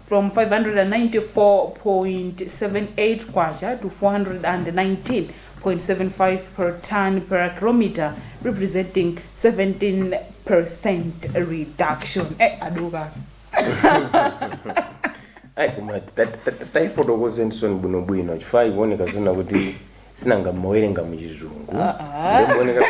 from K594.78 to K419.75 per tonne per km representing 17% reduction eh aduka ayi koma ta- ta- ta- taifotokozeniso bwinobwino chifukwa ikuoneka zona kuti sinanga mumawerenga muchizungu ndikuoneka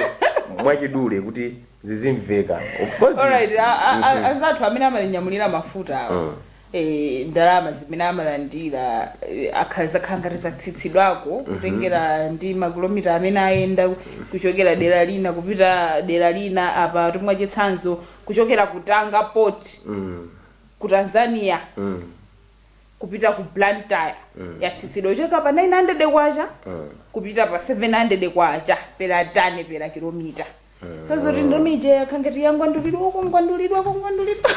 mwachidule kuti zizimveka of course Alright, a- a- a- anzathu amene amalinyamulira mafuta awa eh, ndalama zimene amalandira eh, akha- zakhala ngati zatsitsidwako kutengera ndi makilomita amene ayenda kuchokera dera lina kupita dera lina apatu mwachitsanzo kuchokera ku Tanga Port ku Tanzania kupita ku Blantyre yatsitsidwa kuchoka pa 900 kwacha kupita pa 700 kwacha per tani per kilomita Sasa uri ndomi ija yakhala ngati yangodulidwa kungodulidwa kungodulidwa.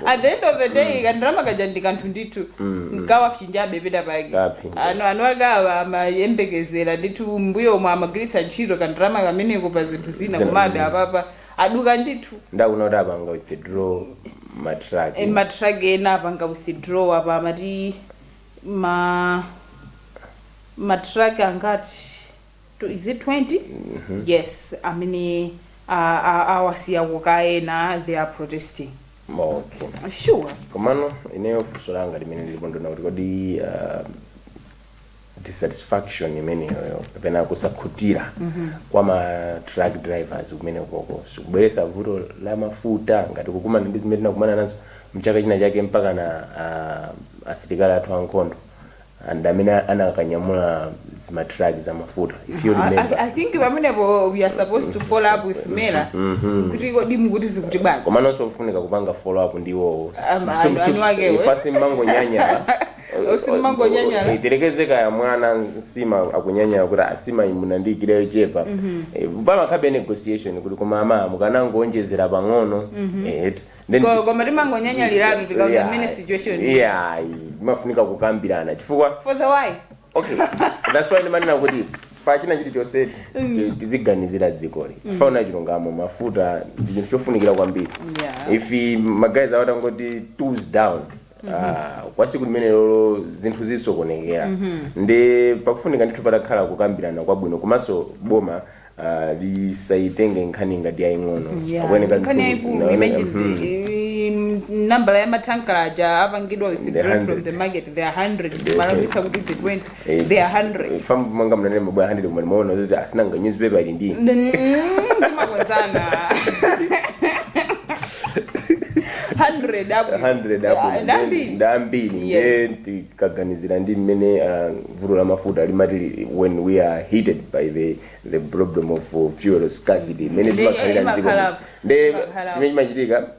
At the end of the day kandalama kaja ndi kanthu ndithu nkawapsinjabe penapake Kapsinja. ano anawa akhoza amayembekezera ndithu m'mbuyomu amagwiritsa ntchito kandalama kameneko pa zinthu zina Zina. komabe apapa aduka ndithu ndikuona kuti apanga withdraw matrack Eh, matrack ena apanga withdraw apa amati ma matrack angati to is it 20 yes amene a- a- awasiya kukayenda they are protesting okay sure komano ineyo funso langa limene ndili nalo ndiona kuti kodi uh, dissatisfaction imeneyoyo kapena kusakhutira kwa ma truck drivers kumenekoko sikubweretsa vuto la mafuta ngati kukumana ndi zimene tinakumana nazo mchaka china chake mpaka na uh, asilikali athu ankhondo and amene anakanyamula zimatruck za mafuta if you I, I, remember I think pamenepo we are supposed to follow up with MERA kuti kodi mukuti zikuti bwanji komanso kufunika kupanga follow up ndi iwowo Ama- anu- eni akewo. ife simangonyanyala Usimangonyanyala. tiyerekeze kaya mwana nsima akunyanyala kuti a nsima munandiyikira yochepa Eh, pamakhalabe negotiation kuti koma ama mukanangoonjezera pang'ono eh, Then Ko- koma timangonyanyaliratu tikaona Yeah. mmene situation ili. Yeah, imafunika kukambirana chifukwa for the why okay that's why ndimanena kuti pachina chilichonsechi ti- tiziganizira dzikoli tifune chilungamo mafuta ndi chinthu chofunikira kwambiri Yeah. if ma guys awa atangoti tools down Ah, kwa siku limenelolo zinthu zisokonekera ndiye pakufunika ndithu patakhala kukambirana kwabwino komanso boma ah, lisayitenge nkhani ngati yaying'ono Akuyeneka ndithu- nkhani yaikulu naone- imagine mhm. the- in- nambala ya mathankala aja apangidwa withdrawn from 100. the market they are 100 malabitsa kuti the 20 They are hungry. fam manga mnanene mabwana 100 koma ndimaona kuti asinanga newspaper ili ndi Then, mm, ndimakwezana. 100 hapo. 100 Yeah, hapo ndambiri. ndambiri Yes. nde tikaganizira ndi mmene ah, vuto la mafuta limati li- when we are hit by the the problem of uh, fuel scarcity mmene Ndi- zimakhalira mdziko imakhala- nde imakhala- chimene chimachitika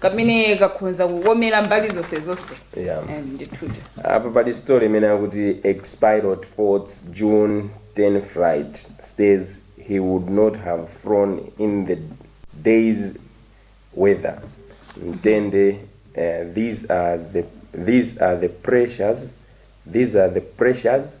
kamene kakhonza kukomera mbali zonse zonse Yeah. Eh, ndithudi apa pali story imene akuti ex-pilot faults june 10 flight says he would not have flown in the day's weather mtende uh, these are the these are the pressures these are the pressures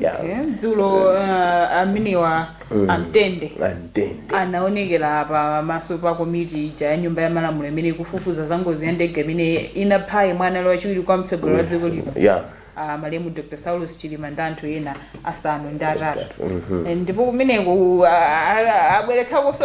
Yeah. Okay. dzulo uh, amenewa amtende Antende. anaonekera pa maso pa komiti ija ya nyumba ya malamulo imene ikufufuza za ngozi ya ndege imene inapha yemwe anali wachiwiri kwa mtsogoleri wa dziko lino Yeah. uh, malemu dr saulos chilima ndi anthu ena asanu ndi atatu Eh, ndipo kumeneko uh, abweretsakonso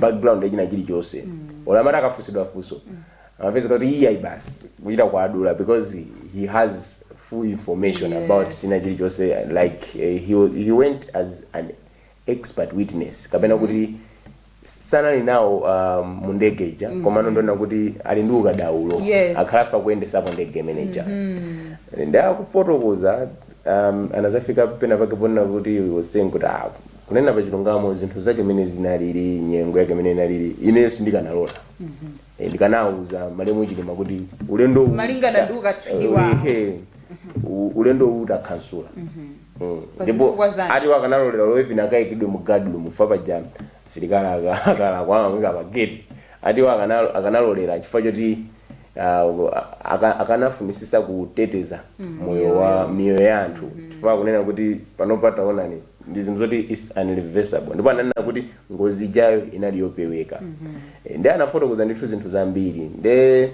background yachina chilichonse ola amati akafunsidwa funso amapezeka kuti iyayi basi kuchita kuadula because he has full information Yes. about china chilichonse like eh, he, wa- he went as an expert witness kapena kuti sanali nawo uh, mu ndege ija koma anangoona kuti ali ndi ukadaulo Yes. akhala akuyendesapo ndege manager nda kufotokoza um, anazafika pena pake ponena kuti he was saying kuti ah, Kunena pa chilungamo zinthu zake mene zinalili nyengo yake mene inalili ineyo sindikanalola Eh, ndikanauza malemu chilima kuti ulendo uwu- Malingana ndi ukatswiri Eh, wawo. ehe, u- ulendo uwu utakhansula Mm. Pa ndipo zifukwa zake. ati wakanalolera olo even akaikidwe mu guard room fa paja msilikali akalakwa amamuika pageti ati iwo akana- akanalolera chifukwa choti ah, aka- akanafunisisa kuteteza moyo wa miyoyo ya anthu chifukwa kunena kuti panopa taonani ndi zinthu zoti is irreversible ndipo ananena kuti ngozi ijayo inali yopeweka mm -hmm. ndi anafotokoza ndithu zinthu zambiri nde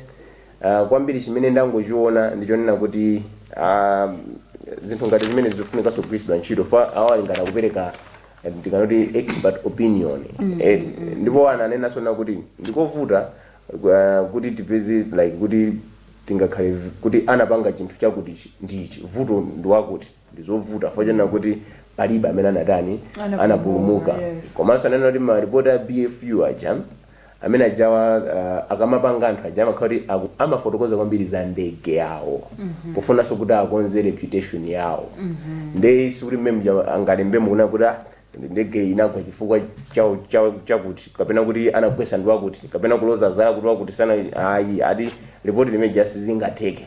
uh, kwambiri chimene ndangochiona ndichonena kuti uh, zinthu ngati zimene zikufunika kugwiritsidwa ntchito fa awo ali ngati akupereka eh, tikanati expert opinion mm -hmm. ndipo ananena so kuti ndikovuta uh, kuti tipeze like kuti tingakhale kuti anapanga chinthu chakuti ndichi vuto ndiwakuti ndi zovuta chifukwa chonena kuti palibe amene anatani Anapulumuka, anapulumuka yes. komanso ananena kuti maripoti a bfu aja amene ajawa uh, akamapanga anthu aja amakhala kuti aku- amafotokoza kwambiri za ndege yawo pofunanso kuti akonze reputation yawo nde sikuti mmene muja angalembe mukuona kuti ah, ndege inagwa chifukwa chawo- chawo- chakuti kapena kuti anagwetsa ndi wakuti kapena kuloza zala kuti wakuti sana ayi ati ripoti limene lija sizingatheke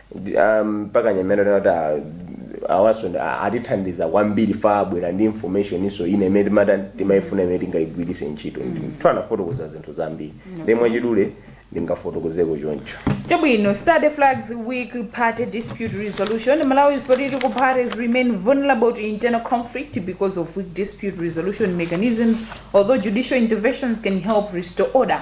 Ndi- ah, mpaka nyamena kuti ah, awanso ndi- ah, atithandiza kwambiri ifa abwera ndi information iso ina imene timata timayifuna imene tingayigwiritse ntchito nthu anafotokoza zinthu zambiri ndi mwachidule ndingafotokozeko choncho Chabwino, study flags weak party dispute resolution. Malawi's political parties remain vulnerable to internal conflict because of weak dispute resolution mechanisms, although judicial interventions can help restore order.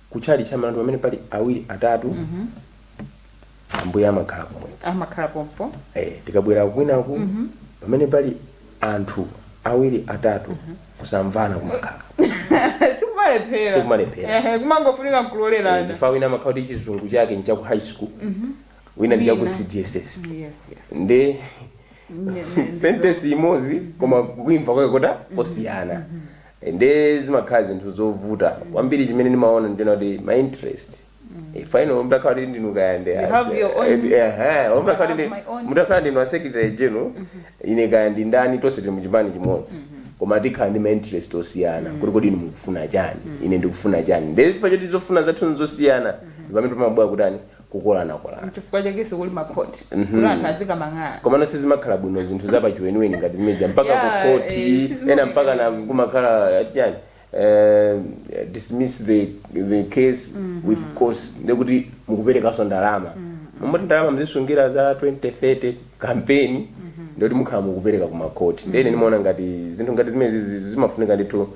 kutchalitchi amati pamene pali awiri atatu ambuye amakhala pomwepo amakhala pompo eh, tikabwera kwinaku pamene pali anthu awiri atatu kusamvana kumakhala sikumalephera Sikumalephera. Ehe, kumangofunika Eh, nkulolerana chifukwa wina amakhala kuti chizungu chake ni chaku high school wina ndi chaku Wina. cdss yes yes ndi Ne- ne- sentence imodzi koma kuimva kwake kuta kosiyana e nde zimakhala zinthu zovuta kwambiri chimene ndimaona ndiona kuti ma interest e, final mtakhala kuti ndinu kaya ndi You as- have your own- eh, eh, eh, I mtakhala have ndi- my own. mtakhala ndinu a secretary general ine kaya ndi ndani tonse tili muchipani chimodzi koma tikhala ndi ma interest osiyana kuti kodi inu mukufuna chani ine ndikufuna chani nde chifukwa choti zofuna zathu nzosiyana ndi pamene pamabwera kutani kukolanakolana nchifukwa chakenso kuli makhoti kuti anthu azikamang'ala komano sizimakhala bwino zinthu zapachiweniweni ngati zimeja mpaka Yeah, eh, kukhoti sizimaoneka ena mpaka na bwino. kumakhala ati chani eh, dismiss the, the case with cost ndekuti mukuperekanso ndalama mmoti ndalama muzisungira za 2030 kampeni ndikuti mukhala mukupereka kumakhoti ndene ndimaona ngati zinthu ngati zimenezizi zimafunika ndithu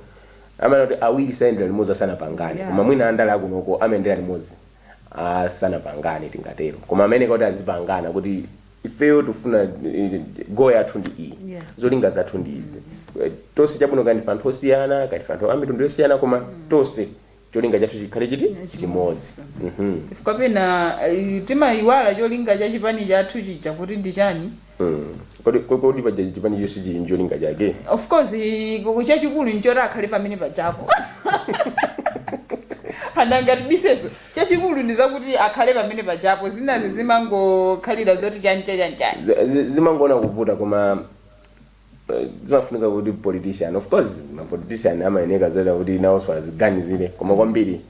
amanena kuti awiri sayendera limodzi asanapangane Yeah. koma mwina andale akunoko amayendera limodzi Asanapangane tingatero koma amene kuti azipangana kuti ifeyo tifuna eh, goal yathu ndi iyi Yes. zolinga zathu ndi izi Eh, tonse chabwino kaya ndife anthu osiyana kaya ndife anthu amitundu yosiyana koma tonse cholinga chathu chikhale chiti chimodzi Mhm. chifukwa pena eh, timayiwala cholinga cha chipani chathu chija kuti ndi chani Kodi kodi paja chipani chonse chili ncholinga chake? Of course ku- chachikulu nchoti akhale pamene pajapo anangatbiseso chachikulu ndi zakuti akhale pamene pajapo zinazi zimangokhalira zoti chancha chanchani Zi- zi- zimangoona kuvuta koma eh, zimafunika kuti politician of course ma politician amayeneka zonena kuti nawonso aziganizire koma kwambiri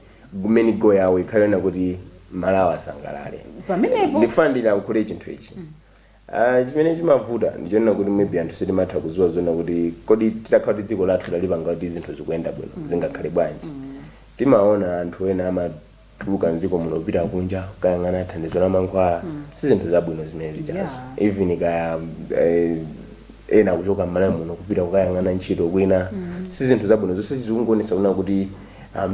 main goal yawo ikhale yonena kuti malawi asangalale pamenepo ndifuna ndilankhule chinthu ichi Aaa chimene chimavuta ndichonena kuti maybe anthu sitimatha kuziwa zonena kuti kodi titakhala kuti dziko lathu talipanga kuti zinthu zikuyenda bwino zingakhale bwanji timaona anthu ena amatuluka mdziko muno kupita kunja kukayang'ana thandizo la mankhwala sizinthu zabwino zimene zijazo Yeah. even kaya eh, ena kuchoka mmalawi muno kupita kukayang'ana ntchito kwina si zinthu zabwino zonse zikungoonesa kunena kuti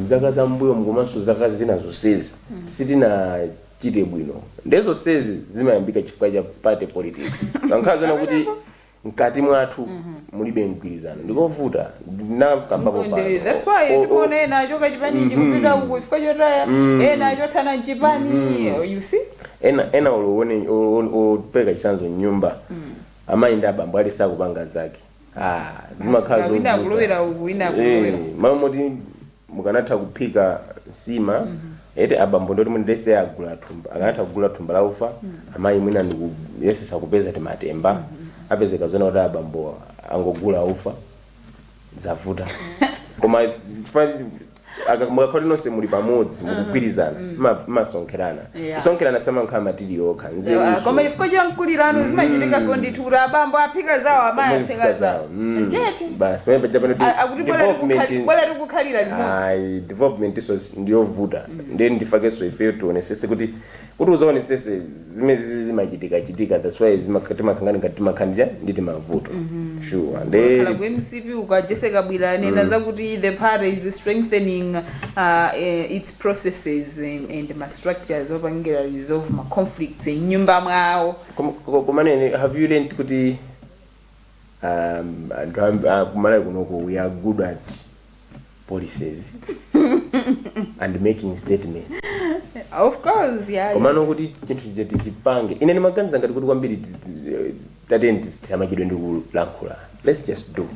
mzaka za mbuyomu komanso zaka zina zonsezi sitina chita bwino nde zonsezi zimayambika chifukwa cha party politics mukakhala zoona kuti mkati mwathu mulibe mgwirizano ndikovuta ndinakambapo pano. Ndi- that's why O- o- tikuona ena achoka chipani akupita uku chifukwa chotaya ena achotsana mchipani you see ena ena olowone opereka chitsanzo mnyumba amayi ndi abambo ali sakupanga zake Ah, zimakhala Asika, wina zovuta. akulowera uku, wina akulowera Eh, mmalo moti mukanatha kuphika nsima eti abambo ndoti mwini lese agula thumba akanatha kugula thumba la ufa amayi mwina ndikuyesetsa kupeza timatemba apezeka zona kuti abambo angogula ufa zavuta koma chifukwa Aka- mukakhale nonse muli pamodzi mukugwirizana mma- mmasonkherana Yeah. kusonkherana simakhala ma material okha nzeruso koma chifukwa cha nkulirano zimachitikanso ndithu kuti abambo aphika zawo amayi aphika zawo chete basi pamene paja pano A- akuti bwera development tikukhali- bwera tikukhalira limodzi ayi development inso ndiyovuta ndiye ndi ifenso ifeyo tionetsetse kuti kuti ukaonetsetsa zimene zizi zimachitika chitika that's why zimaka- timakangana ngati timakhalira ndi timavuto sure kaya nde ku mcp uku jessie kabwila anena zakuti the party is strengthening uh, eh, its processes and, and ma structures opangira resolve ma conflicts mnyumba mwawo Kom- ko- koma inenso have you learned kuti um, anthu amb- a kumalawi kunoko we are good at policies and making statements of course yeah, yeah. komano kuti chinthu chija tichipange ine ndimaganiza ngati kuti kwambiri ti- ti- tiyeni tisamachedwe ndi kulankhula let's just do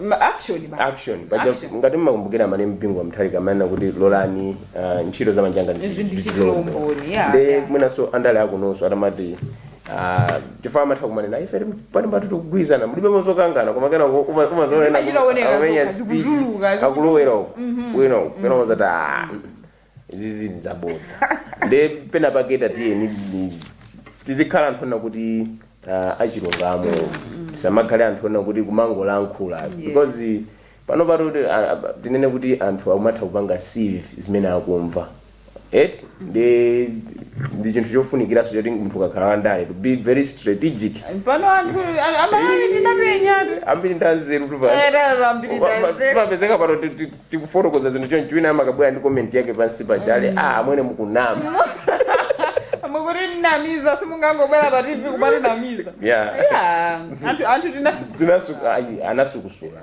Ma- actually basi. action paja Action. ngati mmakumbukira amayi bingu wa mutharika amanena kuti lolani ah, ntchito za manja anga Izi ndichitire umboni, yeah, yeah. mwinanso andale akunonso atamati Ah, chifukwa amatha kumanena ife pano patu tikugwirizana mulibe mozokangana koma kenako Zimachita kuoneka amenya zokha, speech zikutuluka, zikutuluka. akulowera uko wina uko kenako mumadzati "Ah, izizi ndi zabodza nde pena pake tatiyeni ni- tizikhala anthu onena kuti ah, achilungamo tisamakhale anthu onena kuti kumangolankhula because Panopa tatini tinene kuti anthu akumatha kupanga sieve zimene akumva eti ndi ndi chinthu chofunikiranso choti munthu ukakhala wandale to be very strategic pano anthu amalawi anapenyatu ambiri ndi anzerutu pano. Erero ambiri ndi Koma- anzeru. timapezeka pano ti- ti- tikufotokoza zinthu chonchi wina amakabwera ndi comment yake pansi pa channel ah amwene mukunama mukutinamiza simungangobwera pa tv kumatinamiza Yeah. Yeah, anthu anthu tinasuku Zinasu- ayi, anasukusula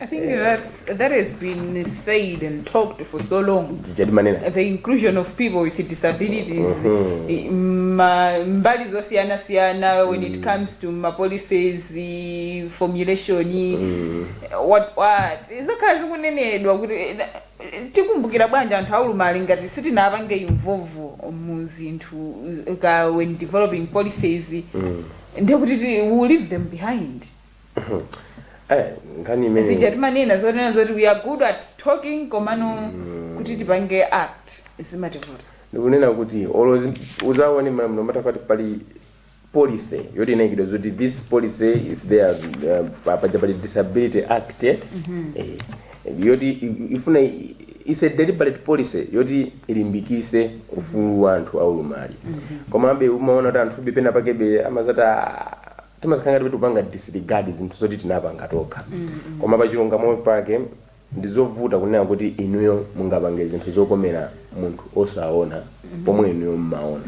I think that's that has been said and talked for so long. zija timanena The inclusion of people with disabilities, i- ma- mbali zosiyanasiyana when it comes to ma policies, the formulation, what what zakhala zikunenedwa kuti eh, tikumbukira bwanji anthu aulumali ngati sitinapange involve muzinthu eh, ka when developing policies ndekuti ti- we will leave them behind Eh, nkhani imene zija timanena zonena zoti we are good at talking komano kuti tipange act zimativuta ndikunena kuti olo zi- uzaone no matter what pali policy yoti inaikidwa zoti this policy is there uh, pa- paja pali disability act eh? Eh, yoti i- ifuna i- is a deliberate policy yoti ilimbikise ufulu wa anthu aulumali komabe umaona kuti anthube penapakebe amazati "Ah, timakhala ngati kuti tikupanga disregard zinthu zoti tinapanga tokha. Koma pa chilungamo pake ndizovuta kunena kuti inuyo mungapange zinthu zokomera munthu osaona pomwe inuyo mmaona.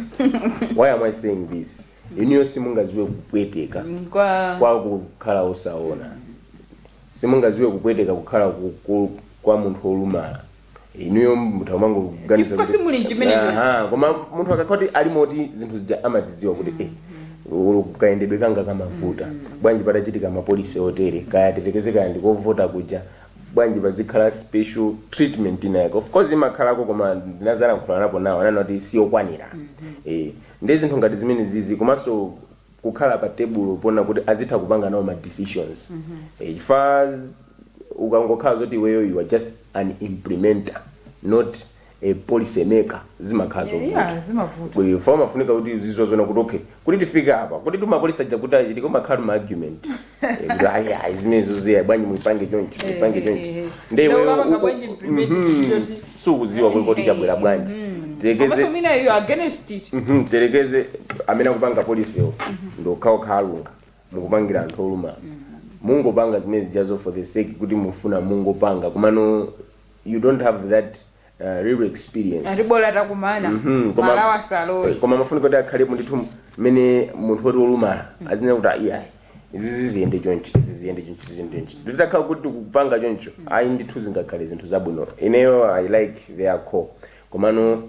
Why am I saying this? Inuyo simungaziwe kupweteka Kwa kwa kukhala osaona. Simungaziwe kupweteka kukhala ku- ku- kwa munthu olumala. inuyo mutha umangoganiza Chifukwa kuti- simuli m'chimene ndili. Aha, koma munthu akakhala kuti ali moti zinthu zija amaziziwa kuti eh ulo kayendedwe kanga kumavuta bwanji patachitika mapolisi otere kaya tiyerekeze kaya ndi kovota kuja bwanji pazikhala special treatment inayake of course imakhalako koma ndinazalankhulanapo nawo ananena kuti siyokwanira eh ndi zinthu ngati zimene zizi komanso kukhala pa tebulo poona kuti azitha kupanga nawo ma decisions Eh, chifukwa z- ukangokhala zoti iweyo you are just an implementer not a policy maker zimakhala zovuta iya zimavuta Kwe- chifukwa umafunika kuti uziziwa zonena kuti okay kuti tifike apa kuti timapolisi tija kuti tichitike kumakhala ma argument kuti ayi ayi zimenezo siya bwanji muipange choncho muipange Eh, choncho eh, eh. nde Nde iweyo ukapanga uku- bwanji implement Mhm. choti- sukudziwa kuti kodi chabwera bwanji komanso tiyerekeze mwina iyo against it Mhm, tiyerekeze amene akupanga polisiwo ndi okhaokha alunga mukupangira anthu olumala mungopanga zimene zijazo for the sake kuti mufuna mungopanga komano you don't have that uh, real experience ati bola takumana Mhm, koma- mmalowa Eh, salowa koma mafunika kuti akhalepo ndithu mmene munthu woti wolumala azinena kuti aiyayi izizi ziyende chonchi izi ziyende chonchi izi ziyende chonchi titakhala kuti tikupanga choncho ayi ndithu zingakhale zinthu zabwino ineyo i like their call komano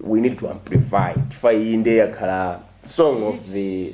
we need to amplify chifukwa iyi ndiye yakhala song of the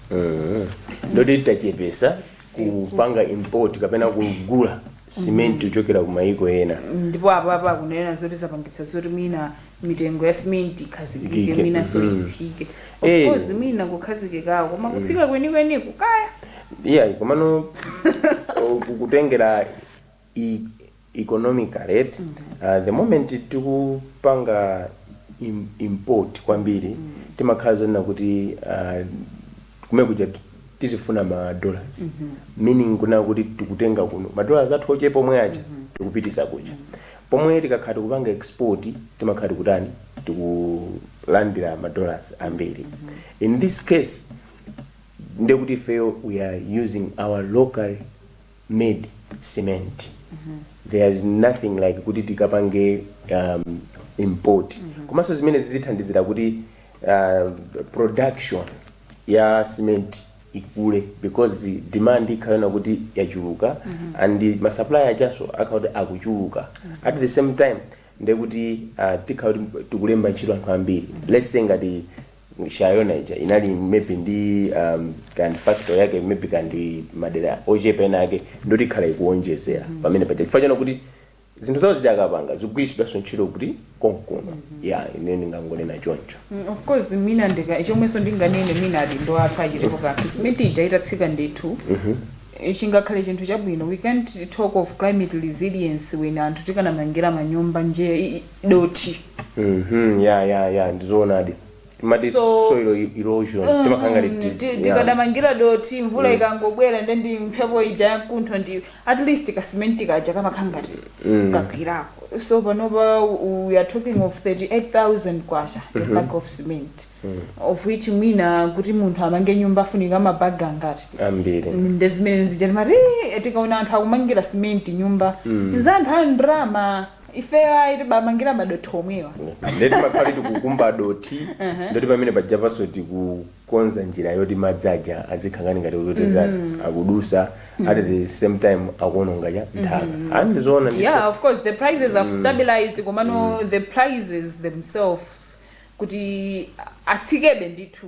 ndoti tachepesa kupanga import kapena kugula simenti kuchokera ku mayiko ena ndipo apo apo akunena zoti zapangitsa zoti mwina mitengo ya simenti ikhazikike mwinanso mhm. itsike Eh. of course mwina kukhazikikawo koma kutsika kwenikweni kukaya iyayi komano kutengera economically eti uh, the moment tikupanga im, import kwambiri timakhala zonena kuti uh, kumene kuja ti- tizifuna ma dollars meaning kuna kuti tikutenga kuno ma dollars athu ochepa omwe aja tikupititsa kuja pomwe tikakhala tikupanga export timakhala tikutani tikulandira ma dollars ambiri in this case ndekuti ifeyo we are using our local made cement there is nothing like kuti tikapange um, import komanso zimene zizithandizira kuti uh, production ya cement ikule because demand ikhalana kuti yachuluka and masupplier ajanso akhala kuti akuchuluka at the same time ndekuti uh, tikhala kuti tikulemba ntchito anthu ambiri let's say ngati Shayona ija inali maybe ndi um, ka factory yake maybe kandi madera ochepa ena ake ndoti ikhala ikuonjezera pamene paja chifukwa chona kuti zinthu zawo zija akapanga zikugwiritsidwanso ntchito kuti konkuno ya ine ndingangonena choncho Mm, of course mwina ndika chomwenso ndinganene mwina adindo athu achitepo kanthu simenti ija itatsika ndithu Eh, chingakhale chinthu chabwino we can't talk of climate resilience when anthu tikanamangira manyumba nje i- i- dothi Mhm, ya ya ya ndizoonadi timati So- soil erosion timakhala ngati Mm, ti- ti- ya. tikadamangira dothi mvula ikangobwera nde ndi mphepo ija yamkuntho ndi at least kasimenti kaja kamakhala ngati kagwirako so panopa u- we are talking of 38000 kwacha a bag of cement of which mwina kuti munthu amange nyumba afunika mabaga angati ambiri nde zimene zija timati tikaona anthu akumangira simenti nyumba nza anthu a ndrama ifeyo ayi tibamangira madothi omwewa ndeti tumakhala tikukumba dothi ndoti pamene pajapanso tikukonza njira yoti madzi aja azikhangani ngati kutotera akudutsa at the same time akuononga chani nthaka a ndizoona ndithu. yeah of course the prices have stabilized komano the prices themselves kuti atsikebe ndithu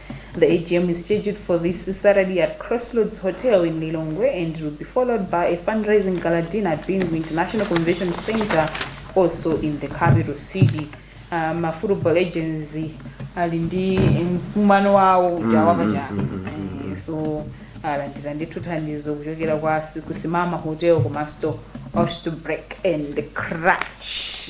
The AGM is scheduled for this Saturday at Crossroads Hotel in Lilongwe and will be followed by a fundraising gala dinner at Bingu International Convention Center, also in the capital city. Uh, ma football agents ali ndi mkumano wawo uja wapachaka Eh, so alandira ndithu thandizo kuchokera kwa si- kusimama hotel komanso osh to break and crash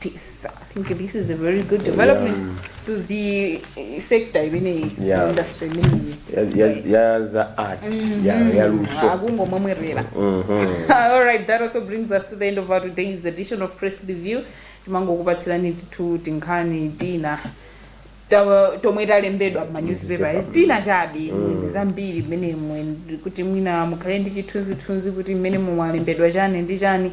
this i think this is a very good development yeah. to the uh, sector imeneyi yeah. industry imeneyi ya za art mm-hmm. yeah, yaluso akungomwemwerera mm-hmm. all right that also brings us to the end of our today's edition of press review timangokupatsirani timitu tinkhani tina tomwe talembedwa mmanyuzipepa eh, tina chabe mm. zambiri mmene mwe kuti mwina mukhale ndi chithunzithunzi kuti mmene mumwalembedwa chani ndi chani